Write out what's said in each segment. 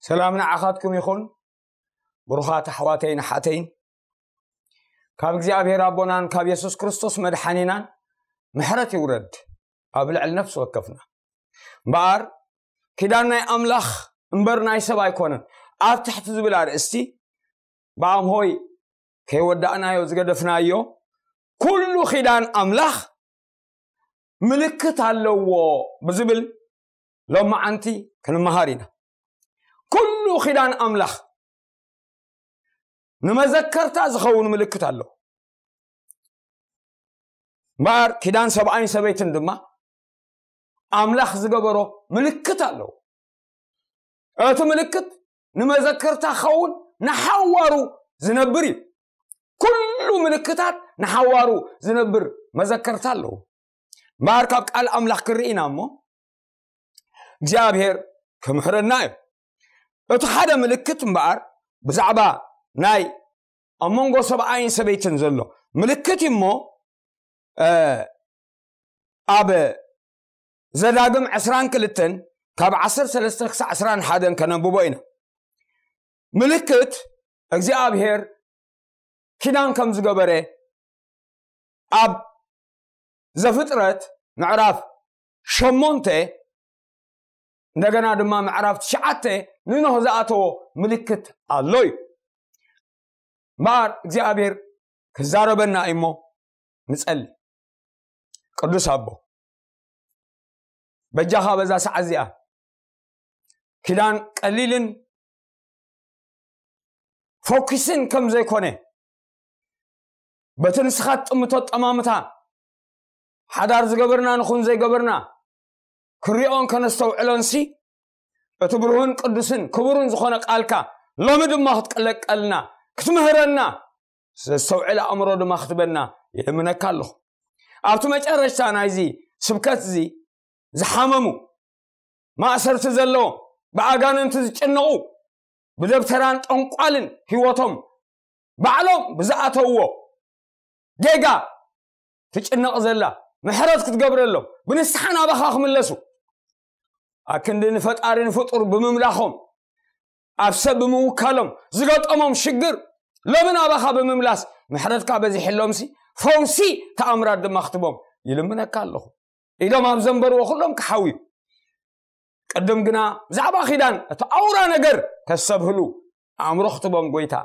ሰላም ንዓኻትኩም ይኹን ብሩኻት ኣሕዋተይን ሓተይን ካብ እግዚኣብሄር ኣቦናን ካብ የሱስ ክርስቶስ መድሓኒናን ምሕረት ይውረድ ኣብ ልዕሊ ነፍሲ ወከፍና እምበኣር ኪዳን ናይ ኣምላኽ እምበር ናይ ሰብ ኣይኮነን ኣብ ትሕቲ ዝብል ኣርእስቲ ብኣም ሆይ ከይወዳእናዮ ዝገደፍናዮ ኩሉ ኪዳን ኣምላኽ ምልክት ኣለዎ ብዝብል ሎም መዓንቲ ክንመሃር ኢና ኩሉ ኪዳን ኣምላኽ ንመዘከርታ ዝኸውን ምልክት ኣለዎ እምበኣር ኪዳን ሰብኣይን ሰበይትን ድማ ኣምላኽ ዝገበሮ ምልክት ኣለዎ እቲ ምልክት ንመዘክርታ ክኸውን ንሓዋሩ ዝነብር እዩ ኩሉ ምልክታት ንሓዋሩ ዝነብር መዘከርታ ኣለዎ እምበኣር ካብ ቃል ኣምላኽ ክንርኢ ኢና እሞ እግዚኣብሄር ክምሕረና እዩ እቲ ሓደ ምልክት እምበኣር ብዛዕባ ናይ ኣብ መንጎ ሰብኣይን ሰበይትን ዘሎ ምልክት እዩ እሞ ኣብ ዘዳግም ዕስራን ክልተን ካብ ዓሰርተ ሰለስተ ክሳዕ ዕስራን ሓደን ከነንብቦ ኢና ምልክት እግዚኣብሄር ኪዳን ከም ዝገበረ ኣብ ዘፍጥረት ምዕራፍ ሸሞንተ እንደገና ድማ ምዕራፍ ትሽዓተ ንኖህ ዝኣተዎ ምልክት ኣሎ እዩ እምበኣር እግዚኣብሄር ክዛረበና እዩሞ ንፀሊ ቅዱስ ኣቦ በጃኻ በዛ ሰዓት እዚኣ ኪዳን ቀሊልን ፎኪስን ከም ዘይኮነ በቲ ንስኻ ትጥምቶ ጠማምታ ሓዳር ዝገበርና ንኹን ዘይገበርና ክሪኦን ከነስተውዕሎን ሲ እቲ ብርሁን ቅዱስን ክቡርን ዝኾነ ቃልካ ሎሚ ድማ ክትቅለቀልና ክትምህረና ዘስተውዕል ኣእምሮ ድማ ክትበና ይልምነካ ኣለኹ ኣብቲ መጨረሽታ ናይዚ ስብከት እዚ ዝሓመሙ ማእሰርቲ ዘለዎ ብኣጋንንቲ ዝጭነቑ ብደብተራን ጠንቋልን ህይወቶም ባዕሎም ብዝኣተውዎ ጌጋ ትጭነቕ ዘላ ምሕረት ክትገብረሎም ብንስሓ ናባኻ ክምለሱ ኣክንዲ ንፈጣሪ ንፍጡር ብምምላኾም ኣብ ሰብ ብምውካሎም ዝገጠሞም ሽግር ሎሚ ናባኻ ብምምላስ ምሕረትካ በዚሕሎምሲ ፈውሲ ተኣምራት ድማ ክትቦም ይልምነካ ኣለኹ ኢሎም ኣብ ዘንበርዎ ኩሎም ክሓውዩ ቅድም ግና ብዛዕባ ኪዳን እቲ ኣውራ ነገር ከሰብህሉ ኣእምሮ ክትቦም ጎይታ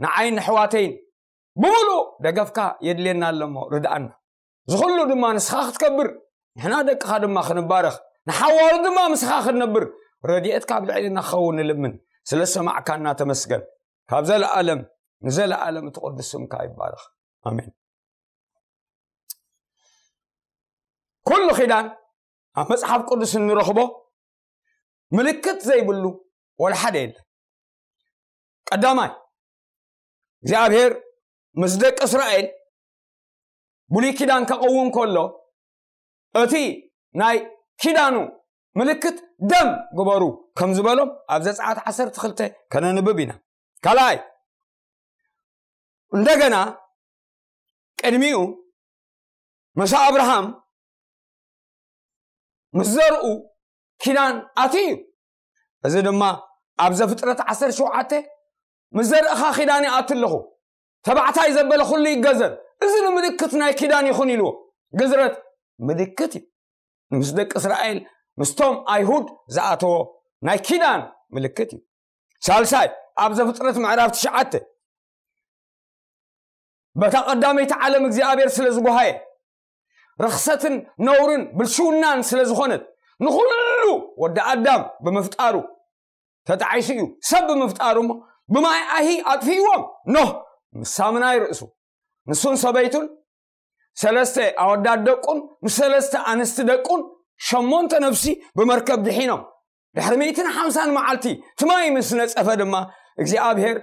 ንዓይን ንሕዋተይን ብምሉእ ደገፍካ የድልየና ኣለሞ ርድኣና ዝኹሉ ድማ ንስኻ ክትከብር ንሕና ደቅኻ ድማ ክንባረኽ ንሓዋሩ ድማ ምስኻ ክንነብር ረድኤት ካብ ልዕልና ክኸውን ንልምን ስለ ሰማዕካና ተመስገን ካብ ዘለኣለም ንዘለኣለም እቲ ቅዱስ ስምካ ይባረኽ ኣሜን ኩሉ ኪዳን ኣብ መፅሓፍ ቅዱስ እንረኽቦ ምልክት ዘይብሉ ወላ ሓደ የለን ቀዳማይ እግዚኣብሔር ምስ ደቂ እስራኤል ብሉይ ኪዳን ከቐውም ከሎ እቲ ናይ ኪዳኑ ምልክት ደም ግበሩ ከም ዝበሎም ኣብ ዘፀኣት ዓሰርተ ክልተ ከነንብብ ኢና ካልኣይ እንደገና ቅድሚኡ መሳ ኣብርሃም ምስ ዘርኡ ኪዳን ኣት እዩ እዚ ድማ ኣብ ዘፍጥረት ዓሰርተ ሸውዓተ ምስ ዘርእኻ ኪዳን ይኣት ኣለኹ ተባዕታይ ዘበለ ኩሉ ይገዘር እዚ ንምልክት ናይ ኪዳን ይኹን ኢልዎ ግዝረት ምልክት እዩ ምስ ደቂ እስራኤል ምስቶም ኣይሁድ ዝኣተዎ ናይ ኪዳን ምልክት እዩ ሳልሳይ ኣብ ዘፍጥረት ምዕራፍ ትሽዓተ በታ ቀዳመይቲ ዓለም እግዚኣብሔር ስለ ዝጓሃየ ርኽሰትን ነውርን ብልሽውናን ስለ ዝኾነት ንኹሉ ወዲ ኣዳም ብምፍጣሩ ተጣዒሱ እዩ ሰብ ብምፍጣሩ እሞ ብማይ ኣሂ ኣጥፍእዎም ኖህ ምስ ሳምናይ ርእሱ ንሱን ሰበይቱን ሰለስተ ኣወዳት ደቁን ምስ ሰለስተ ኣንስቲ ደቁን ሸሞንተ ነፍሲ ብመርከብ ድሒኖም ድሕሪ ሚእትን ሓምሳን መዓልቲ ትማይ ምስ ነፀፈ ድማ እግዚኣብሄር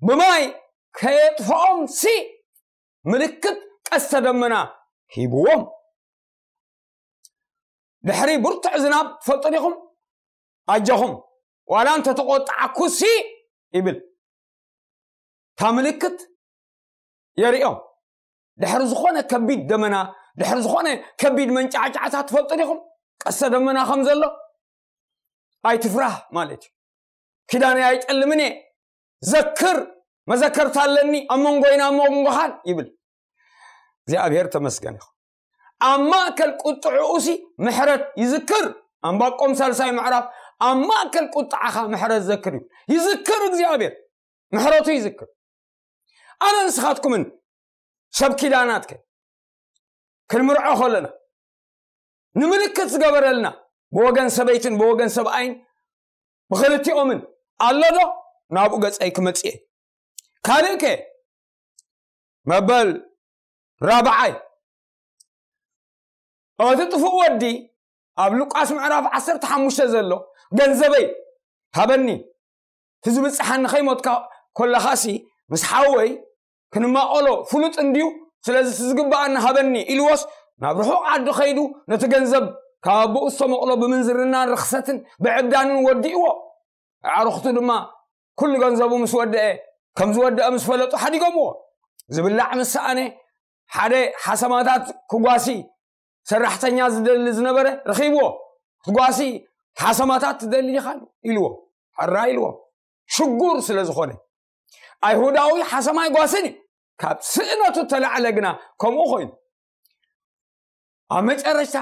ብማይ ከየጥፍኦም ሲ ምልክት ቀስተ ደመና ሂብዎም ድሕሪ ብርቱዕ ዝናብ ትፈልጡ ዲኹም ኣጀኹም ዋላ እንተ ተቆጣዕኩሲ ይብል እታ ምልክት የርእዮም ድሕሪ ዝኾነ ከቢድ ደመና ድሕሪ ዝኾነ ከቢድ መንጫዕጫዕታ ትፈልጡ ዲኹም ቀሰ ደመና ከም ዘሎ ኣይትፍራህ ማለት እዩ ኪዳነ ኣይጠልምን እየ ዘክር መዘከርታ ኣለኒ ኣብ መንጎይና ኣብ መንጎኻን ይብል እግዚኣብሔር ተመስገን ይኹ ኣብ ማእከል ቁጥዕኡሲ ምሕረት ይዝክር ኣንባቆም ሳልሳይ ምዕራፍ ኣብ ማእከል ቁጥዓኻ ምሕረት ዘክር እዩ ይዝክር እግዚኣብሔር ምሕረቱ ይዝክር ኣነ ንስኻትኩምን ሰብ ኪዳናትከ ክንምርዖ ከለና ንምልክት ዝገበረልና ብወገን ሰበይትን ብወገን ሰብኣይን ብክልቲኦምን ኣሎ ዶ ናብኡ ገፀይ ክመፅእ ካልእ ከ መበል ራብዓይ፣ እቲ ጥፉእ ወዲ ኣብ ሉቃስ ምዕራፍ ዓሰርተ ሓሙሽተ ዘሎ ገንዘበይ ሃበኒ ትዝብጽሓኒ ከይሞትካ ኮለኻሲ ምስ ሓወይ ክንማቐሎ ፍሉጥ እንድዩ ስለዚ ትዝግብኣኒ ሃበኒ ኢልዎስ ናብ ርሑቕ ዓዲ ከይዱ ነቲ ገንዘብ ካብ ኣቦኡ ዝተመቕሎ ብምንዝርናን ርኽሰትን ብዕብዳንን ወዲእዎ ኣዕርኽቱ ድማ ኩሉ ገንዘቡ ምስ ወደአ ከም ዝወደአ ምስ ፈለጡ ሓዲጎምዎ ዝብላዕ ምስ ሰኣነ ሓደ ሓሰማታት ክጓሲ ሰራሕተኛ ዝደሊ ዝነበረ ረኺብዎ ክትጓሲ ሓሰማታት ትደሊ ኢኻ ኢልዎ ሕራ ኢልዎ ሽጉር ስለ ዝኾነ ኣይሁዳዊ ሓሰማ ይጓስን እዩ ካብ ስእነቱ ተላዕለ ግና ከምኡ ኮይኑ ኣብ መጨረሽታ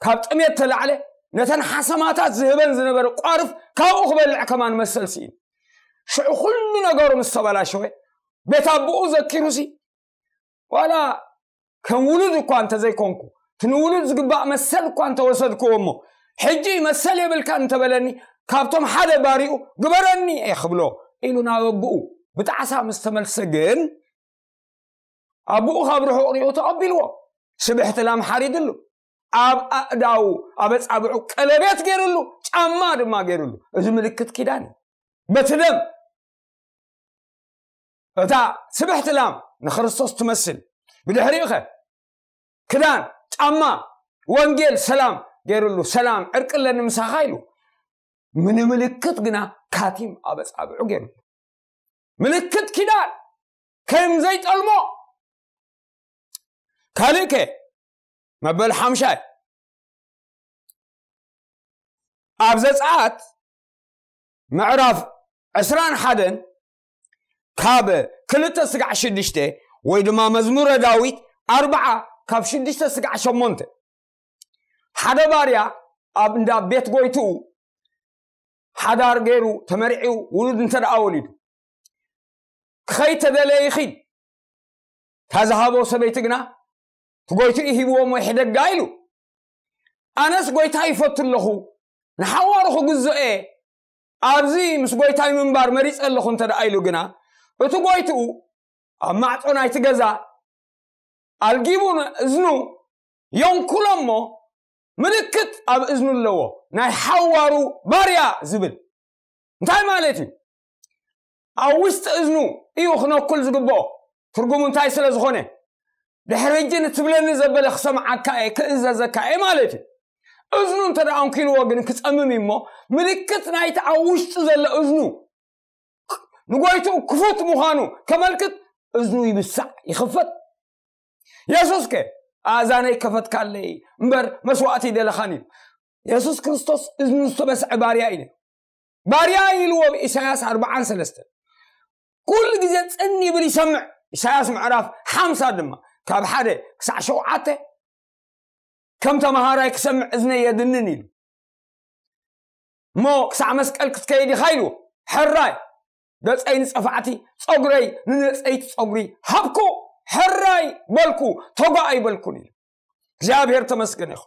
ካብ ጥሜት ተላዕለ ነተን ሓሰማታት ዝህበን ዝነበረ ቋርፍ ካብኡ ክበልዕ ከማን መሰል ስኢኑ ሽዑ ኩሉ ነገሩ ምስ ተበላሸወ ቤት ኣቦኡ ዘኪሩ ሲ ዋላ ከም ውሉድ እኳ እንተዘይኮንኩ እቲ ንውሉድ ዝግባእ መሰል እኳ እንተወሰድክዎ እሞ ሕጂ መሰል የብልካ እንተበለኒ ካብቶም ሓደ ባሪኡ ግበረኒ እየ ክብሎ ኢሉ ናብ ኣቦኡ ብጣዕሳ ምስ ተመልሰ ግን ኣቦኡ ካብ ርሑቕ ሪኡ ተቐቢልዎ ስብሕቲ ላም ሓሪድሉ ኣብ ኣእዳው ኣብ ኣጻብዑ ቀለቤት ገይርሉ ጫማ ድማ ገይርሉ እዚ ምልክት ኪዳን እዩ በቲ ደም እታ ስብሕቲ ላም ንክርስቶስ ትመስል ብድሕሪኡ ኸ ክዳን ጫማ ወንጌል ሰላም ገይርሉ ሰላም ዕርቂ ኣለኒ ምሳኻ ኢሉ ምንምልክት ግና ካቲም ኣብ ኣጻብዑ ገይርሉ ምልክት ኪዳን ከም ዘይጠልሞ ካልእ ከ መበል ሓምሻይ ኣብ ዘፀኣት ምዕራፍ ዕስራን ሓደን ካብ ክልተ ስጋዕ ሽዱሽተ ወይ ድማ መዝሙረ ዳዊት ኣርባዓ ካብ ሽዱሽተ ስጋዕ ሸሞንተ ሓደ ባርያ ኣብ እንዳ ቤት ጎይትኡ ሓዳር ገይሩ ተመርዒው ውሉድ እንተደኣ ወሊዱ ክኸይተደለየ ይኺድ እታ ዝሃቦ ሰበይቲ ግና ትጎይትኡ ሂብዎ እሞ ይሕደጋ ኢሉ ኣነስ ጎይታ ይፈቱ ኣለኹ ንሓዋሩ ክግዝኦ እየ ኣብዚ ምስ ጎይታይ ምንባር መሪፀ ኣለኹ እንተ ደኣ ኢሉ ግና እቲ ጎይትኡ ኣብ ማዕፆ ናይቲ ገዛ ኣልጊቡ እዝኑ የንኩሎ እሞ ምልክት ኣብ እዝኑ ኣለዎ ናይ ሓዋሩ ባርያ ዝብል እንታይ ማለት እዩ ኣብ ውሽጢ እዝኑ እዩ ክነኩል ዝግብኦ ትርጉሙ እንታይ ስለ ዝኾነ ድሕሪ ሕጂ ንትብለኒ ዘበለ ክሰምዓካ እየ ክእዘዘካ እየ ማለት እዩ እዝኑ እንተ ደኣ ኣንኪልዎ ግን ክጸምም እሞ ምልክት ናይቲ ኣብ ውሽጡ ዘሎ እዝኑ ንጎይትኡ ክፉት ምዃኑ ከመልክት እዝኑ ይብሳዕ ይኽፈት የሱስ ከ ኣእዛነይ ከፈትካለይ እምበር መስዋእቲ ይደለኻን እዩ የሱስ ክርስቶስ እዝኑ ዝተበስዐ ባርያ እዩ ባርያ ኢልዎ ብ ኢሳያስ ኣርብዓን ሰለስተን ኩሉ ግዜ ጽን ይብል ይሰምዕ ኢሳያስ ምዕራፍ ሓምሳ ድማ ካብ ሓደ ክሳዕ ሸውዓተ ከም ተምሃራይ ክሰምዕ እዝነይ የድንን ኢሉ እሞ ክሳዕ መስቀል ክትከይድ ኢኻ ኢልዎ ሕራይ ገፀይ ንፀፋዕቲ ፀጉረይ ንነፀይቲ ፀጉሪ ሃብኩ ሕራይ በልኩ ተጓእ ኣይበልኩን ኢሉ እግዚኣብሔር ተመስገን ይኹ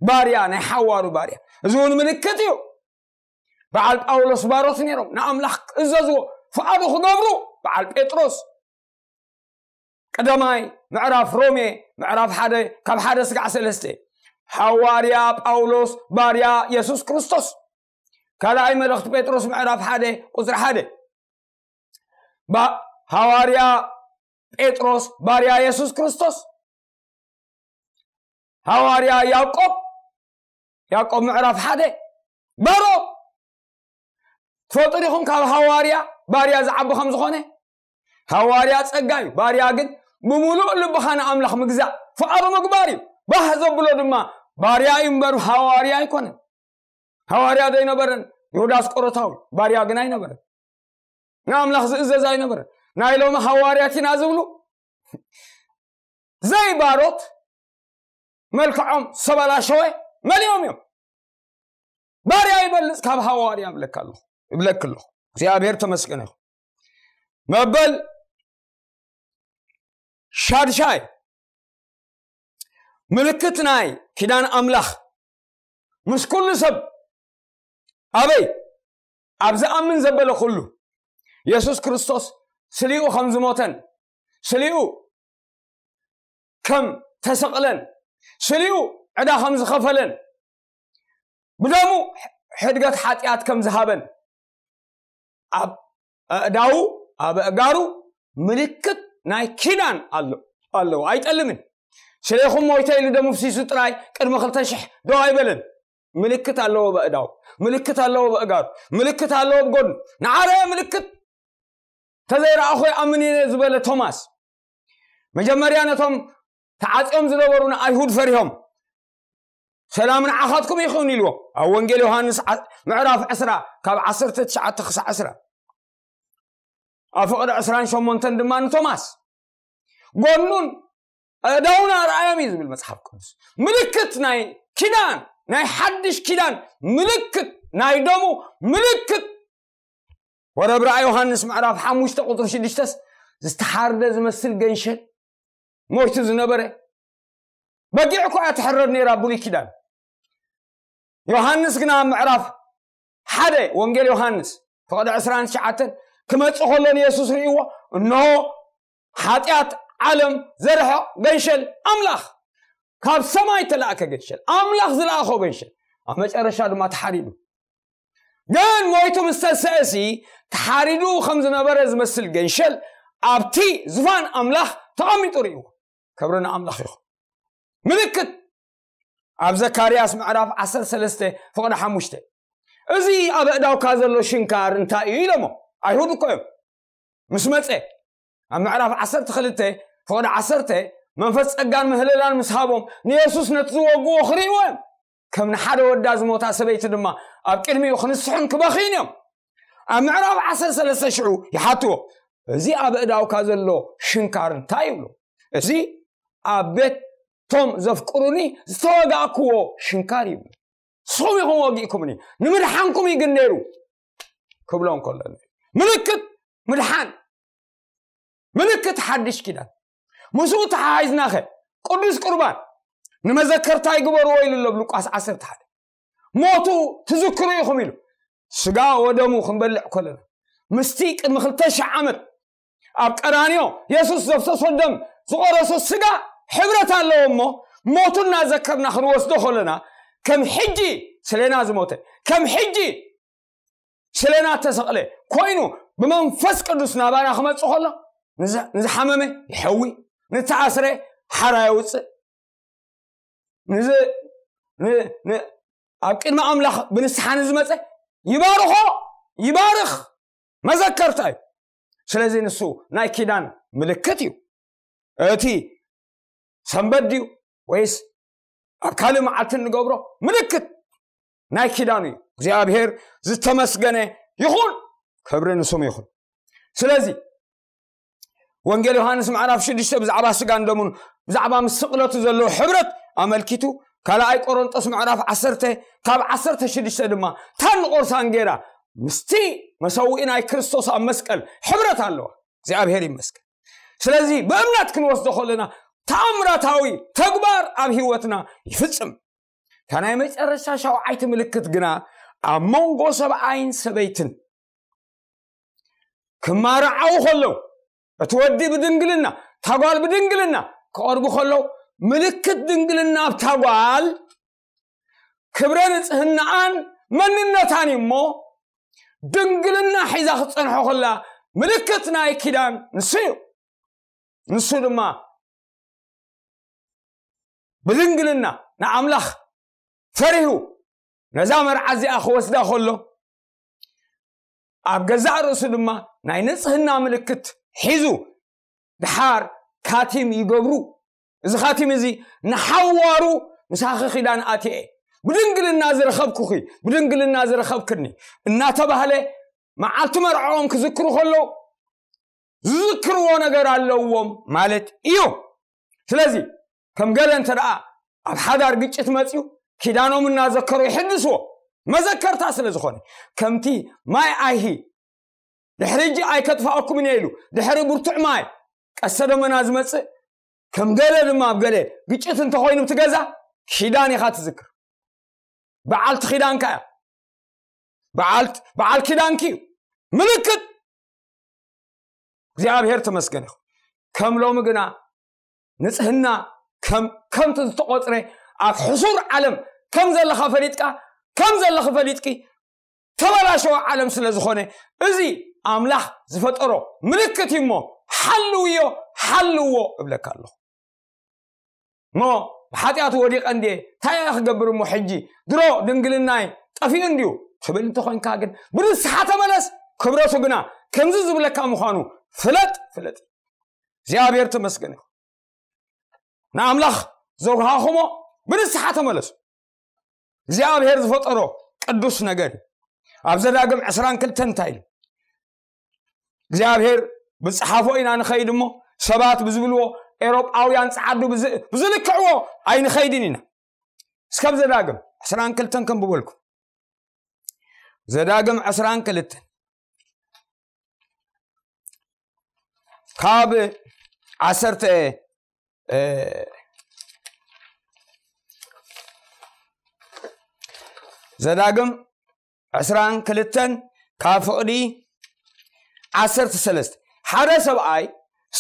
ባርያ ናይ ሓዋሩ ባርያ እዚ እውን ምልክት እዩ በዓል ጳውሎስ ባሮት ነይሮም ንኣምላኽ ክእዘዝዎ ፍቓዱ ክገብሩ በዓል ጴጥሮስ ቀዳማይ ምዕራፍ ሮሜ ምዕራፍ ሓደ ካብ ሓደ ስጋዕ ሰለስተ ሓዋርያ ጳውሎስ ባርያ የሱስ ክርስቶስ ካልኣይ መልእኽቲ ጴጥሮስ ምዕራፍ ሓደ ቁፅሪ ሓደ ሃዋርያ ጴጥሮስ ባርያ የሱስ ክርስቶስ ሃዋርያ ያዕቆብ ያዕቆብ ምዕራፍ ሓደ ባሮም ትፈልጡ ዲኹም ካብ ሃዋርያ ባርያ ዝዓቢ ከም ዝኾነ ሃዋርያ ጸጋ እዩ ባርያ ግን ብምሉእ ልብኻ ንኣምላኽ ምግዛእ ፍቓዱ ምግባር እዩ ባህ ዘብሎ ድማ ባርያ እዩ እምበር ሃዋርያ ኣይኮነን ሃዋርያ ዶ ኣይነበረን ይሁዳ ኣስቆሮታዊ ባርያ ግን ኣይነበረን ንኣምላኽ ዝእዘዝ ኣይነበረን ናይ ሎሚ ሃዋርያት ኢና ዝብሉ ዘይባሮት መልክዖም ዝተበላሸወ መሊኦም እዮም ባርያ ይበልፅ ካብ ሃዋርያ ይብለካ ኣለኹ ይብለክ ኣለኹ እግዚኣብሔር ተመስገነ ይኹ መበል ሻድሻይ ምልክት ናይ ኪዳን ኣምላኽ ምስ ኩሉ ሰብ ኣበይ ኣብ ዝኣምን ዘበለ ኩሉ የሱስ ክርስቶስ ስሊኡ ከም ዝሞተን ስሊኡ ከም ተሰቕለን ስሊኡ ዕዳ ከም ዝኸፈለን ብደሙ ሕድገት ሓጢኣት ከም ዝሃበን ኣብ ኣእዳዉ ኣብ ኣእጋሩ ምልክት ናይ ኪዳን ኣሎ ኣለዎ ኣይጠልምን ስለይኹም ሞይተ ኢሉ ደሙ ፍሲሱ ጥራይ ቅድሚ ክልተ ሽሕ ዶ ኣይበለን ምልክት ኣለዎ በእዳው ምልክት ኣለዎ በእጋሩ ምልክት ኣለዎ ብጎድኑ ንዓረየ ምልክት ተዘይረኣኹ ይኣምን ኢነ ዝበለ ቶማስ መጀመርያ ነቶም ተዓጽዮም ዝነበሩ ንኣይሁድ ፈሪሆም ሰላም ንዓኻትኩም ይኹን ኢልዎ ኣብ ወንጌል ዮሃንስ ምዕራፍ ዕስራ ካብ ዓሰርተ ትሽዓተ ክሳዕ ዕስራ ኣብ ፍቕሪ ዕስራን ሸሞንተን ድማ ንቶማስ ጎኑን ኣእዳውን ኣርኣዮም እዩ ዝብል መፅሓፍ ቅዱስ ምልክት ናይ ኪዳን ናይ ሓድሽ ኪዳን ምልክት ናይ ደሙ ምልክት ወረብ ራእ ዮሃንስ ምዕራፍ ሓሙሽተ ቁፅሪ ሽዱሽተስ ዝተሓርደ ዝመስል ገንሸል ሞይቱ ዝነበረ በጊዕ እኳ እያ ትሕረድ ነይራ ብሉይ ኪዳን ዮሃንስ ግና ኣብ ምዕራፍ ሓደ ወንጌል ዮሃንስ ፍቕዲ ዕስራን ትሽዓተን ክመፅእ ከሎ ንየሱስ ርእይዎ እንሆ ሓጢኣት ዓለም ዘርሕቕ ገንሸል ኣምላኽ ካብ ሰማይ ተላእከ ገንሸል ኣምላኽ ዝለኣኾ ገንሸል ኣብ መጨረሻ ድማ ተሓሪዱ ግን ሞይቱ ምስ ተንስአሲ ተሓሪዱ ከም ዝነበረ ዝመስል ገንሸል ኣብቲ ዝፋን ኣምላኽ ተቐሚጡ ርእዎ ክብሪ ንኣምላኽ ይኹን ምልክት ኣብ ዘካርያስ ምዕራፍ 13 ፍቕዲ ሓሙሽተ እዚ ኣብ እዳውካ ዘሎ ሽንካር እንታይ እዩ ኢሎሞ ኣይሁድ እኮ እዮም ምስ መጸ ኣብ ምዕራፍ ዓሰርተ ክልተ ፍቕዲ ዓሰርተ መንፈስ ጸጋን ምህልላን ምስ ሃቦም ንየሱስ ነቲ ዝወግዎ ክርእይዎ እዮም ከም ንሓደ ወዳ ዝሞታ ሰበይቲ ድማ ኣብ ቅድሚኡ ክንስሑን ክበኽዩን እዮም ኣብ ምዕራፍ ዓሰር ሰለስተ ሽዑ ይሓትዎ እዚ ኣብ እዳውካ ዘሎ ሽንካር እንታይ ይብሉ እዚ ኣብ ቤት ቶም ዘፍቅሩኒ ዝተወጋእክዎ ሽንካር ይብሉ ንስኹም ኢኹም ወጊእኩምኒ ንምድሓንኩም እዩ ግን ነይሩ ክብሎ እንከሎ ምልክት ምድሓን ምልክት ሓድሽ ኪዳን ምስኡ ተሓሒዝናኸ ቅዱስ ቁርባን ንመዘከርታ ይግበርዎ ኢሉ ኣሎ ብሉቃስ ዓሰርተ ሓደ ሞቱ ትዝክሩ ኢኹም ኢሉ ስጋ ወደሙ ክንበልዕ ከለና ምስቲ ቅድሚ ክልተ ሽሕ ዓመት ኣብ ቀራንዮ የሱስ ዘፍሰሶ ደም ዝቐረሶ ስጋ ሕብረት ኣለዎ እሞ ሞቱ እናዘከርና ክንወስዶ ከለና ከም ሕጂ ስለና ዝሞተ ከም ሕጂ ስለና እተሰቕለ ኮይኑ ብመንፈስ ቅዱስ ናባና ክመፅእ ከሎ ንዝሓመመ ይሐዊ ንተኣስረ ሓራ የውፅእ ኣብ ቅድሚ ኣምላኽ ብንስሓ ንዝመፀ ይባርኾ ይባርኽ መዘከርታ እዩ ስለዚ ንሱ ናይ ኪዳን ምልክት እዩ እቲ ሰንበት ድዩ ወይስ ኣብ ካልእ መዓልቲ ንገብሮ ምልክት ናይ ኪዳን እዩ እግዚኣብሄር ዝተመስገነ ይኹን ክብሪ ንስሙ ይኹን ስለዚ ወንጌል ዮሃንስ ምዕራፍ ሽዱሽተ ብዛዕባ ስጋን ደሙን ብዛዕባ ምስ ስቕለቱ ዘለዎ ሕብረት ኣመልኪቱ ካልኣይ ቆሮንጦስ ምዕራፍ ዓሰርተ ካብ ዓሰርተ ሽዱሽተ ድማ ታንቆርሳን ገይራ ምስቲ መሰውኢ ናይ ክርስቶስ ኣብ መስቀል ሕብረት ኣለዋ እግዚኣብሔር ይመስገን ስለዚ ብእምነት ክንወስዶ ከለና ተኣምራታዊ ተግባር ኣብ ህይወትና ይፍፅም እታ ናይ መጨረሻ ሻውዓይቲ ምልክት ግና ኣብ መንጎ ሰብኣይን ሰበይትን ክማርዓው ከለው እቲ ወዲ ብድንግልና ታጓል ብድንግልና ክቐርቡ ከለዉ ምልክት ድንግልና ኣብ ታጓል ክብረ ንጽህናኣን መንነታን እዩ እሞ ድንግልና ሒዛ ክትጸንሖ ከላ ምልክት ናይ ኪዳን ንሱ እዩ ንሱ ድማ ብድንግልና ንኣምላኽ ፈሪሁ ነዛ መርዓ እዚኣ ክወስዳ ከሎ ኣብ ገዛእ ርእሱ ድማ ናይ ንጽህና ምልክት ሒዙ ድሓር ካቲም ይገብሩ እዚ ካቲም እዚ ንሓዋሩ ምሳኺ ኪዳን ኣትየ ብድንግልና ዝረኸብኩኺ ብድንግልና ዝረኸብክኒ እናተባህለ መዓልቲ መርዖኦም ክዝክሩ ከለዉ ዝዝክርዎ ነገር ኣለዎም ማለት እዩ ስለዚ ከም ገለ እንተ ደኣ ኣብ ሓዳር ግጭት መፅኡ ኪዳኖም እናዘከሩ ይሕድስዎ መዘከርታ ስለ ዝኾነ ከምቲ ማይ ኣይሂ ድሕሪ እጂ ኣይከጥፋኣኩምን እየ ኢሉ ድሕሪ ብርቱዕ ማይ ቀሰ ደመና ዝመፅእ ከም ገለ ድማ ኣብ ገለ ግጭት እንተኮይኑ እቲ ገዛ ኪዳን ኢኻ ትዝክር በዓልቲ ኪዳንካ እያ በዓል ኪዳንኪ እዩ ምልክት እግዚኣብሔር ተመስገን ይኹ ከም ሎሚ ግና ንጽህና ከም ከምቲ ዝተቆጽረ ኣብ ሕሱር ዓለም ከም ዘለኻ ፈሊጥካ ከም ዘለኺ ፈሊጥኪ ተበላሸወ ዓለም ስለ ዝኾነ እዚ ኣምላኽ ዝፈጠሮ ምልክት እዩ እሞ ሓልውዮ ሓልዎ እብለካ ኣለኹ እሞ ብሓጢኣቱ ወዲቐ እንድየ እንታይ እያ ክገብር እሞ ሕጂ ድሮ ድንግልናይ ጠፊኡ እንድዩ ትብል እንተኮንካ ግን ብንስሓ ተመለስ ክብረቱ ግና ከምዚ ዝብለካ ምዃኑ ፍለጥ ፍለጥ እግዚኣብሔር ተመስገን ይኹን ንኣምላኽ ዘውሃኹሞ ብንስሓ ተመለሱ እግዚኣብሔር ዝፈጠሮ ቅዱስ ነገር እዩ ኣብ ዘዳግም ዕስራን ክልተን እንታይ ኢሉ እግዚኣብሔር ብፅሓፎ ኢና ንኸይድ እሞ ሰባት ብዝብልዎ ኤሮጳውያን ፀዓዱ ብዝልክዕዎ ኣይንኸይድን ኢና እስከብ ዘዳግም ዕስራን ክልተን ከንብበልኩም ዘዳግም ዕስራን ክልተን ካብ ዓሰርተ ዘዳግም ዕስራን ክልተን ካብ ፍቕዲ ዓሰርተ ሰለስተ ሓደ ሰብኣይ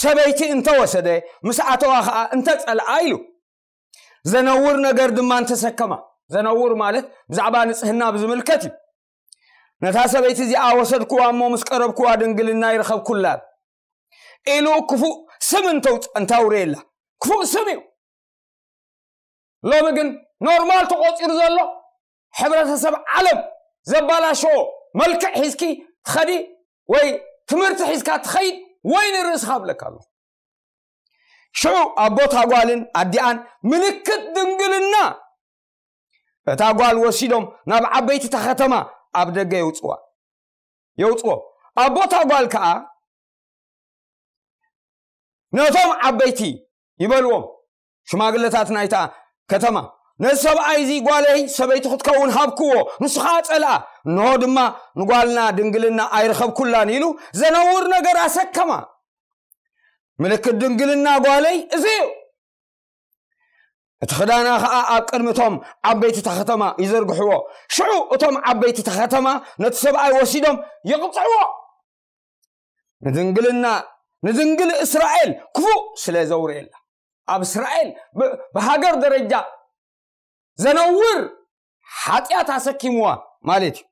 ሰበይቲ እንተወሰደ ምስ ኣተዋ ከዓ እንተፀልኣ ኢሉ ዘነውር ነገር ድማ እንተሰከማ ዘነውር ማለት ብዛዕባ ንፅህና ብዝምልከት እዩ ነታ ሰበይቲ እዚኣ ወሰድኩዋ እሞ ምስ ቀረብኩዋ ድንግልና ይረኸብኩላ ኢሉ ክፉእ ስም እንተውረየላ ክፉእ ስም እዩ ሎሚ ግን ኖርማል ተቆፂሩ ዘሎ ሕብረተሰብ ዓለም ዘባላሸዎ መልክዕ ሒዝኪ ትኸዲ ወይ ትምህርቲ ሒዝካ ትኸይድ ወይ ንርእስኻ ብለካ ኣሎ ሽዑ ኣቦታ ጓልን ኣዲኣን ምልክት ድንግልና እታ ጓል ወሲዶም ናብ ዓበይቲ እታ ከተማ ኣብ ደገ የውጽዋ የውጽዎ ኣቦታ ጓል ከኣ ነቶም ዓበይቲ ይበልዎም ሽማግለታት ናይታ ከተማ ነዚ ሰብኣይ እዚ ጓለይ ሰበይቲ ክትከውን ሃብክዎ ንሱ ከዓ ፀልኣ እንሆ ድማ ንጓልና ድንግልና ኣይረኸብኩላን ኢሉ ዘነውር ነገር ኣሰከማ ምልክት ድንግልና ጓለይ እዚ እዩ እቲ ክዳና ከዓ ኣብ ቅድሚ እቶም ዓበይቲ እታ ከተማ ይዘርግሕዎ ሽዑ እቶም ዓበይቲ እታ ከተማ ነቲ ሰብኣይ ወሲዶም ይቕፅዕዎ ንድንግልና ንድንግል እስራኤል ክፉእ ስለ ዘውርየላ ኣብ እስራኤል ብሃገር ደረጃ ዘነውር ሓጢኣት ኣሰኪምዋ ማለት እዩ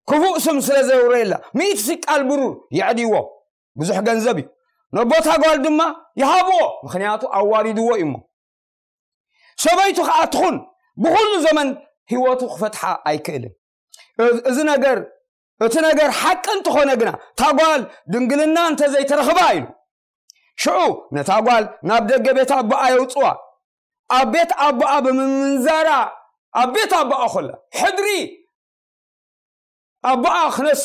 ክፉእ ስም ስለ ዘውርየላ ሚእቲ ስቃል ብሩር የዕድይዎ ብዙሕ ገንዘብ እዩ ነቦታ ጓል ድማ ይሃብዎ ምክንያቱ ኣዋሪድዎ እዩ እሞ ሰበይቱ ከዓ ትኹን ብኩሉ ዘመን ህይወቱ ክፈትሓ ኣይክእልን እዚ ነገር እቲ ነገር ሓቂ እንተኾነ ግና ታጓል ድንግልና እንተዘይተረኽባ ኢሉ ሽዑ ነታ ጓል ናብ ደገ ቤት ኣቦኣ የውፅዋ ኣብ ቤት ኣቦኣ ብምምንዛራ ኣብ ቤት ኣቦኣ ኮላ ሕድሪ ኣቦኣ ክነሱ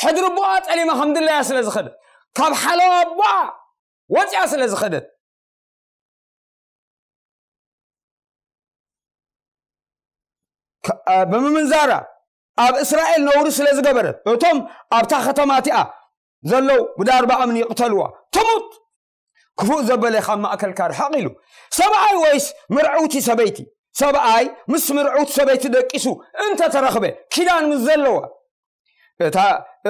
ሕድሪ ኣቦኣ ጠሊማ ከም ድላያ ስለ ዝኸደት ካብ ሓለዋ ኣቦኣ ወፅያ ስለ ዝኸደት ብምምንዛራ ኣብ እስራኤል ነውሪ ስለ ዝገበረት እቶም ኣብታ ከተማ እቲኣ ዘለው ብዳርባ እምኒ ይቕተልዋ ትሙት ክፉእ ዘበለ ካብ ማእከልካ ርሓቕ ኢሉ ሰብኣይ ወይስ ምርዕውቲ ሰበይቲ ሰብኣይ ምስ ምርዕውቲ ሰበይቲ ደቂሱ እንተተረኽበ ኪዳን ምስ ዘለዋ እታ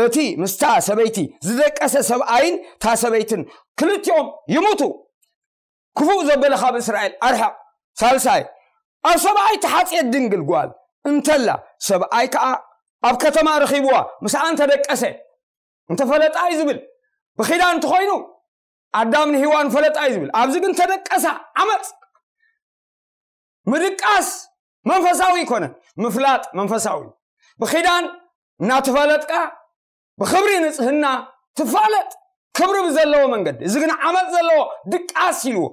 እቲ ምስታ ሰበይቲ ዝደቀሰ ሰብኣይን እታ ሰበይትን ክልቲኦም ይሙቱ ክፉእ ዘበለ ካብ እስራኤል ኣርሕቕ ሳልሳይ ኣብ ሰብኣይ ተሓፅየት ድንግል ጓል እንተላ ሰብኣይ ከዓ ኣብ ከተማ ረኺብዋ ምስኣ እንተደቀሰ እንተፈለጣ እዩ ዝብል ብኪዳን እንተኾይኑ ኣዳም ንሂዋን ፈለጣ እዩ ዝብል ኣብዚ ግን ተደቀሳ ዓመፅ ምድቃስ መንፈሳዊ ይኮነ ምፍላጥ መንፈሳዊ ብኪዳን እናተፈለጥካ ብክብሪ ንፅህና ትፋለጥ ክብሪ ብዘለዎ መንገዲ እዚ ግን ዓመፅ ዘለዎ ድቃስ ኢልዎ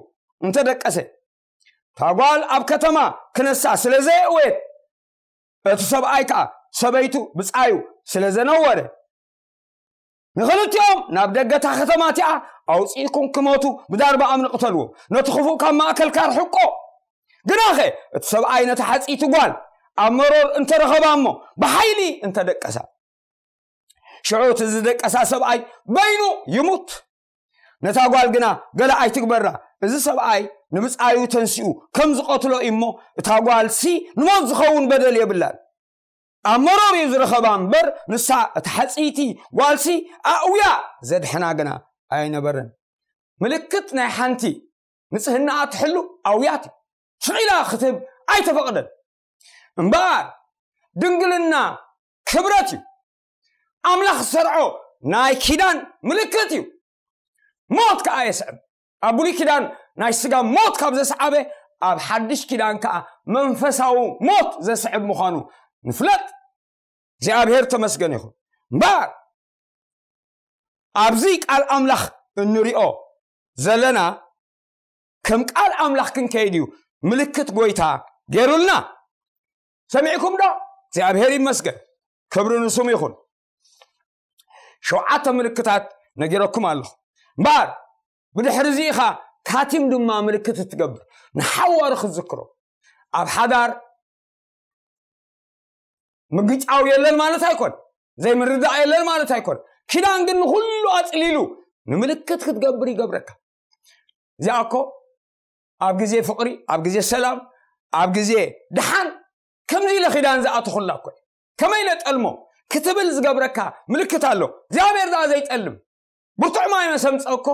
እንተደቀሰ ታጓል ኣብ ከተማ ክነሳ ስለ ዘየእወየት እቲ ሰብኣይ ከኣ ሰበይቱ ብጻዩ ስለ ዘነወረ፣ ንኽልቲኦም ናብ ደገ እታ ኸተማ እቲኣ ኣውጺእኩም ክሞቱ ብዳርባኣም ንቕተልዎም፣ ነቲ ኽፉእ ካብ ማእከልካ ኣርሕቆ። ግናኸ እቲ ሰብኣይ ነታ ሓጽይቲ ጓል ኣብ መሮር እንተ ረኸባ እሞ ብሓይሊ እንተ ደቀሳ፣ ሽዑ እቲ ዝደቀሳ ሰብኣይ በይኑ ይሙት። ነታ ጓል ግና ገለ ኣይትግበራ እዚ ሰብኣይ ንብፃዩ ተንሲኡ ከም ዝቐትሎ እዩ እሞ እታ ጓልሲ ንሞት ዝኸውን በደል የብላን ኣብ መሮር እዩ ዝረኸባ እምበር ንሳ እቲ ሓፅይቲ ጓልሲ ኣእውያ ዘድሕና ግና ኣይነበረን ምልክት ናይ ሓንቲ ንጽህናኣ ትሕሉ ኣውያት ሽዒላ ክትህብ ኣይተፈቕደን እምበኣር ድንግልና ክብረት እዩ ኣምላኽ ዝሰርዖ ናይ ኪዳን ምልክት እዩ ሞት ከዓ የስዕብ ኣብ ብሉይ ኪዳን ናይ ስጋ ሞት ካብ ዘስዓበ ኣብ ሓድሽ ኪዳን ከዓ መንፈሳዊ ሞት ዘስዕብ ምዃኑ ንፍለጥ እግዚኣብሔር ተመስገን ይኹን እምበር ኣብዚ ቃል ኣምላኽ እንሪኦ ዘለና ከም ቃል ኣምላኽ ክንከይድ እዩ ምልክት ጎይታ ገይሩልና ሰሚዕኩም ዶ እግዚኣብሔር ይመስገን ክብሪ ንሱም ይኹን ሸውዓተ ምልክታት ነጊረኩም ኣለኹ እምበኣር ብድሕሪ እዚ ኢኻ ካቲም ድማ ምልክት እትገብር ንሓዋሩ ክትዝክሮ ኣብ ሓዳር ምግጫው የለን ማለት ኣይኮን ዘይምርዳእ የለን ማለት ኣይኮን ኪዳን ግን ንኩሉ ኣፅሊሉ ንምልክት ክትገብር ይገብረካ እዚኣ እኮ ኣብ ግዜ ፍቕሪ ኣብ ግዜ ሰላም ኣብ ግዜ ድሓን ከምዚ ኢለ ኪዳን ዝኣተኹላ እኮ ከመይ ኢለ ጠልሞ ክትብል ዝገብረካ ምልክት ኣሎ እግዚኣብሔር ደኣ ዘይጠልም ብርቱዕ ማይ መሰምፀ እኮ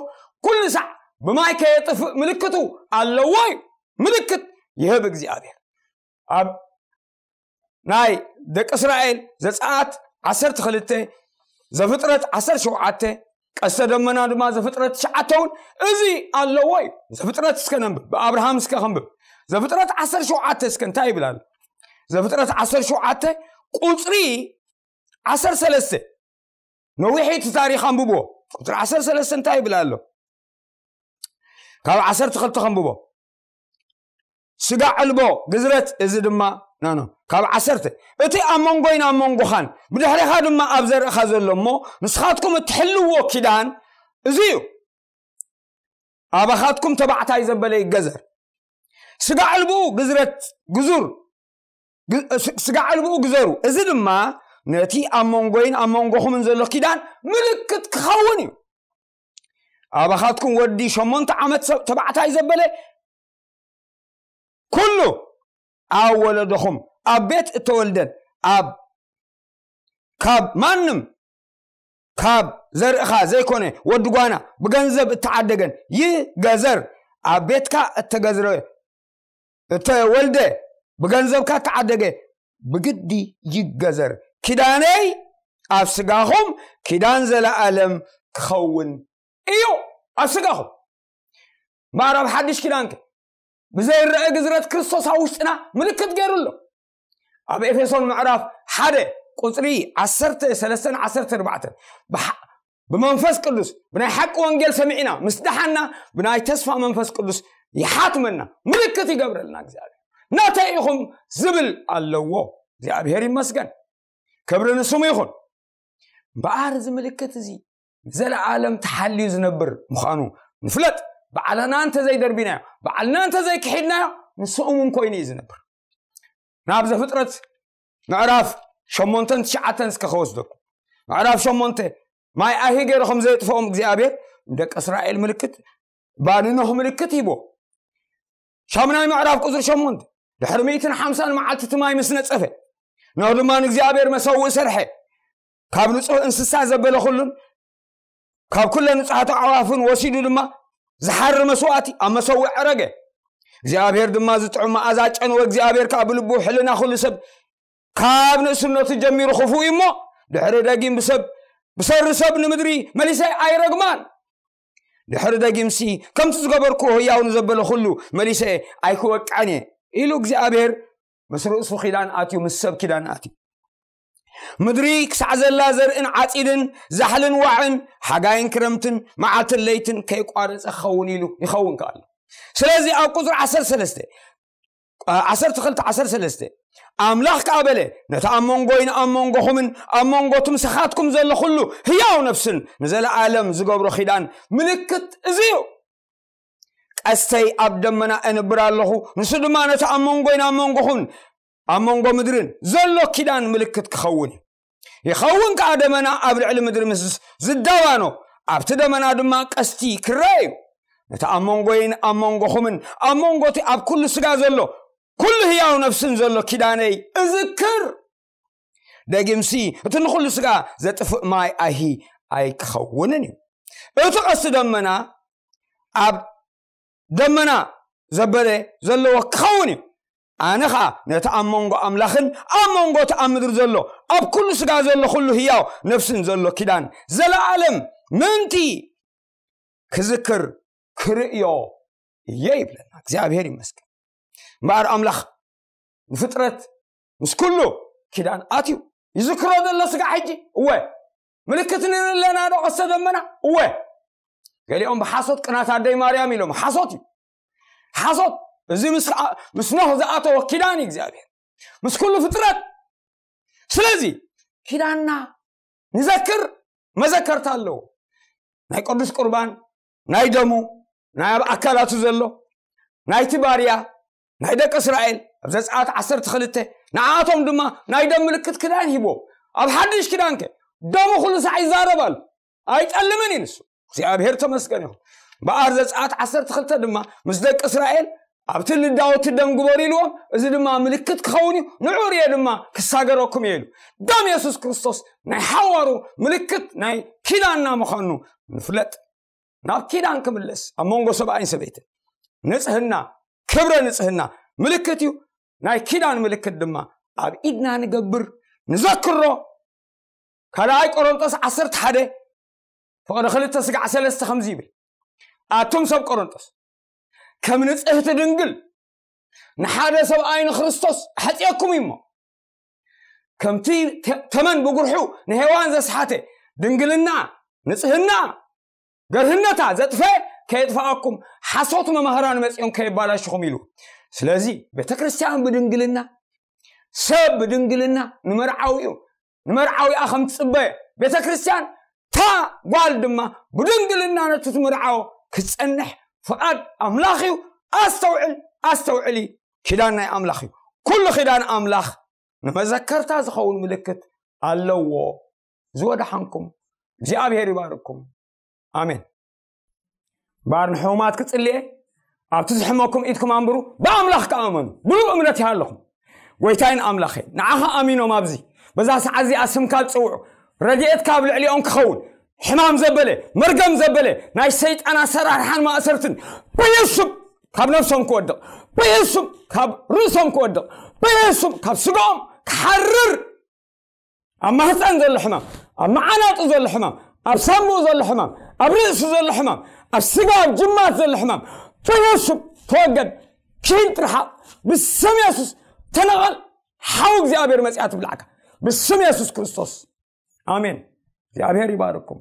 ኩሉ ሳዕ ብማይ ከየጥፍእ ምልክቱ ኣለዎ እዩ ምልክት ይህብ እግዚኣብሔር ኣብ ናይ ደቂ እስራኤል ዘፀኣት ዓሰርተ ክልተ ዘፍጥረት ዓሰርተ ሸውዓተ ቀስተ ደመና ድማ ዘፍጥረት ትሽዓተ እውን እዚ ኣለዎ እዩ ዘፍጥረት እስከ ነንብብ ብኣብርሃም እስከ ክንብብ ዘፍጥረት ዓሰርተ ሸውዓተ እስከ እንታይ ይብል ኣሎ ዘፍጥረት ዓሰርተ ሸውዓተ ቁፅሪ ዓሰርተ ሰለስተ ነዊሒቲ ታሪክ ኣንብቦ ቁፅሪ ዓሰርተ ሰለስተ እንታይ ይብል ኣሎ ካብ ዓሰርተ ክልተ ከንብቦ ስጋ ዕልቦ ግዝረት እዚ ድማ ናኖ ካብ ዓሰርተ እቲ ኣብ መንጎይን ኣብ መንጎኻን ብድሕሪኻ ድማ ኣብ ዘርእኻ ዘሎ እሞ ንስኻትኩም እትሕልዎ ኪዳን እዚ እዩ ኣባኻትኩም ተባዕታይ ዘበለ ይገዘር ስጋ ዕልብኡ ግዝረት ግዙር ስጋ ዕልብኡ ግዘሩ እዚ ድማ ነቲ ኣብ መንጎይን ኣብ መንጎኹምን ዘሎ ኪዳን ምልክት ክኸውን እዩ ኣባኻትኩም ወዲ ሸሞንተ ዓመት ተባዕታይ ዘበለ ኩሉ ኣብ ወለዶኹም ኣብ ቤት እተወልደን ኣብ ካብ ማንም ካብ ዘርእኻ ዘይኮነ ወዲ ጓና ብገንዘብ እተዓደገን ይገዘር ኣብ ቤትካ እተገዝረ እተወልደ ብገንዘብካ እተዓደገ ብግዲ ይገዘር ኪዳነይ ኣብ ስጋኹም ኪዳን ዘለኣለም ክኸውን እዩ ኣብ ስጋኹም እምበኣር ኣብ ሓድሽ ኪዳን ከ ብዘይረአ ግዝረት ክርስቶስ ኣብ ውሽጥና ምልክት ገይሩ ኣሎ ኣብ ኤፌሶን ምዕራፍ ሓደ ቁፅሪ ዓሰርተ ሰለስተን ዓሰርተ ኣርባዕተን ብመንፈስ ቅዱስ ብናይ ሓቂ ወንጌል ሰሚዕና ምስ ደሓና ብናይ ተስፋ መንፈስ ቅዱስ ይሓትመና ምልክት ይገብረልና እግዚኣብሔር ናተይ ኢኹም ዝብል ኣለዎ እግዚኣብሔር ይመስገን ክብሪ ንስሙ ይኹን እምበኣር እዚ ምልክት እዚ ንዘለዓለም ተሓልዩ ዝነብር ምዃኑ ንፍለጥ ባዕልና እንተዘይደርቢናዮ ባዕልና እንተዘይክሒድናዮ ንሱ እሙን ኮይኑ እዩ ዝነብር ናብ ዘፍጥረት ምዕራፍ ሸሞንተን ትሽዓተን እስከ ከወስደኩም ምዕራፍ ሸሞንተ ማይ ኣሂ ገይሩ ከም ዘየጥፍኦም እግዚኣብሔር ንደቂ እስራኤል ምልክት ባንኖህ ምልክት ሂቦ ሻምናይ ምዕራፍ ቁፅሪ ሸሞንተ ድሕሪ ሚእትን ሓምሳን መዓልቲ እቲ ማይ ምስ ነፀፈ ኖህ ድማ ንእግዚኣብሔር መሰውእ ሰርሐ ካብ ንጹህ እንስሳ ዘበለ ኩሉን ካብ ኩለ ንጹሓት ኣዕዋፍን ወሲዱ ድማ ዝሓሪ መስዋእቲ ኣብ መሰዊዕ ዕረገ እግዚኣብሔር ድማ ዝጥዑም መኣዛ ጨንወ እግዚኣብሔር ከዓ ብልቡ ሕልና ኩሉ ሰብ ካብ ንእስነቱ ጀሚሩ ክፉ እዩ እሞ ድሕሪ ደጊም ብሰብ ብሰሪ ሰብ ንምድሪ መሊሰ ኣይረግማን ድሕሪ ደጊምሲ ከምቲ ዝገበርኩ ህያው ንዘበለ ኩሉ መሊሰ ኣይክወቅዐን እየ ኢሉ እግዚኣብሔር ምስ ርእሱ ኪዳን ኣትዩ ምስ ሰብ ኪዳን ኣትዩ ምድሪ ክሳዕ ዘላ ዘርእን ዓፂድን ዛሕልን ዋዕን ሓጋይን ክረምትን መዓልትን ለይትን ከይቋረፀ ክኸውን ኢሉ ይኸውን ከኣሉ ስለዚ ኣብ ቁፅሪ ዓሰርተ ሰለስተ ዓሰርተ ክልተ ዓሰርተ ሰለስተ ኣምላኽ ከዓ በለ ነቲ ኣብ መንጎይን ኣብ መንጎኹምን ኣብ መንጎ ትምሰኻትኩም ዘሎ ኩሉ ህያው ነፍስን ንዘለዓለም ዝገብሮ ኪዳን ምልክት እዚ እዩ ቀስተይ ኣብ ደመና እንብር ኣለኹ ንሱ ድማ ነቲ ኣብ መንጎይን ኣብ መንጎኹምን ኣብ መንጎ ምድርን ዘሎ ኪዳን ምልክት ክኸውን እዩ ይኸውን ከኣ ደመና ኣብ ልዕሊ ምድሪ ምስ ዝዳባኖ ኣብቲ ደመና ድማ ቀስቲ ክረአ እዩ ነቲ ኣብ መንጎይን ኣብ መንጎኹምን ኣብ መንጎቲ ኣብ ኩሉ ስጋ ዘሎ ኩሉ ህያው ነፍስን ዘሎ ኪዳነይ እዝክር ደጊምሲ እቲ ንኹሉ ስጋ ዘጥፍእ ማይ ኣይሂ ኣይክኸውንን እዩ እቲ ቀስቲ ደመና ኣብ ደመና ዘበለ ዘለዎ ክኸውን እዩ ኣነ ኸኣ ነቲ ኣብ መንጎ ኣምላኽን ኣብ መንጎ እቲ ኣብ ምድሪ ዘሎ ኣብ ኩሉ ስጋ ዘሎ ኩሉ ህያው ነፍስን ዘሎ ኪዳን ዘለኣለም ምእንቲ ክዝክር ክርእዮ እየ ይብለና እግዚኣብሔር ይመስገን እምበኣር ኣምላኽ ንፍጥረት ምስ ኩሉ ኪዳን ኣትዩ ይዝክሮ ዘሎ ስጋ ሕጂ እወ ምልክት ንርኢ ኣለና ዶ ቀስተ ደመና እወ ገሊኦም ብሓሶት ቅናት ኣደይ ማርያም ኢሎም ሓሶት እዩ ሓሶት እዚ ምስ ኖህ ዝኣተወ ኪዳን እግዚኣብሔር ምስ ኩሉ ፍጥረት ስለዚ ኪዳንና ንዘክር መዘከርታ ኣለዎ ናይ ቅዱስ ቁርባን ናይ ደሙ ናይ ኣብ ኣካላቱ ዘሎ ናይቲ ባርያ ናይ ደቂ እስራኤል ኣብ ዘፀኣት ዓሰርተ ክልተ ንዓኣቶም ድማ ናይ ደም ምልክት ክዳን ሂቦም ኣብ ሓድሽ ክዳንከ ደሙ ኩሉ ሳዕ ይዛረብ ኣሎ ኣይጠልምን እዩ ንሱ እግዚኣብሔር ተመስገን ይኹን በኣር ዘፀኣት ዓሰርተ ክልተ ድማ ምስ ደቂ እስራኤል ኣብቲ ልዳወቲ ደም ግበሩ ኢልዎም እዚ ድማ ምልክት ክኸውን እዩ ንዑ ርየ ድማ ክሳገረኩም እየ ኢሉ ደም የሱስ ክርስቶስ ናይ ሓዋሩ ምልክት ናይ ኪዳንና ምዃኑ ንፍለጥ ናብ ኪዳን ክምለስ ኣብ መንጎ ሰብኣይን ሰበይትን ንፅህና ክብረ ንፅህና ምልክት እዩ ናይ ኪዳን ምልክት ድማ ኣብ ኢድና ንገብር ንዘክሮ ካልኣይ ቆሮንጦስ ዓሰርተ ሓደ ፍቕሪ ክልተ ስጋዕ ሰለስተ ከምዚ ይብል ኣቱም ሰብ ቆሮንጦስ ከም ንጽህቲ ድንግል ንሓደ ሰብኣይ ንክርስቶስ ሓፂኦኩም እዩ እሞ ከምቲ ተመን ብጉርሑ ንሄዋን ዘስሓተ ድንግልና ንጽህና ገርህነታ ዘጥፈ ከየጥፋኣኩም ሓሶት መማህራን መፅኦም ከየባላሽኹም ኢሉ ስለዚ ቤተ ክርስትያን ብድንግልና ሰብ ብድንግልና ንመርዓዊ እዩ ንመርዓዊኣ ከም ትጽበ ቤተ ክርስቲያን እታ ጓል ድማ ብድንግልና ነቲ ትምርዓዎ ክትጸንሕ ፍቓድ ኣምላኽ እዩ ኣስተውዕል ኣስተውዕሊ ኪዳን ናይ ኣምላኽ እዩ ኩሉ ኪዳን ኣምላኽ ንመዘከርታ ዝኸውን ምልክት ኣለዎ ዝወደሓንኩም እግዚኣብሔር ይባርኩም ኣሜን ባር ንሕሙማት ክጽልየ ኣብቲ ዝሕመኩም ኢድኩም ኣንብሩ ብኣምላኽ ክኣመኑ ብሉ እምነት ይሃለኹም ጎይታይን ኣምላኸ ንዓኻ ኣሚኖም ኣብዚ በዛ ሰዓት እዚኣ ስምካ ዝፅውዑ ረድኤት ካብ ልዕሊኦም ክኸውን ሕማም ዘበለ መርገም ዘበለ ናይ ሰይጣን ኣሰራርሓን ማእሰርትን በየሱም ካብ ነብሶም ክወድቕ በየሱም ካብ ርእሶም ክወድቕ በየሱም ካብ ስጋኦም ክሓርር ኣብ ማህፀን ዘሎ ሕማም ኣብ መዓናጡ ዘሎ ሕማም ኣብ ሳምኡ ዘሎ ሕማም ኣብ ርእሲ ዘሎ ሕማም ኣብ ስጋ ኣብ ጅማት ዘሎ ሕማም ተነሱ ተወገድ ኪድ ትርሓቕ ብስም የሱስ ተነቐል ሓው እግዚኣብሔር መፅኣ ትብላዕካ ብስም የሱስ ክርስቶስ ኣሜን እግዚኣብሔር ይባርኩም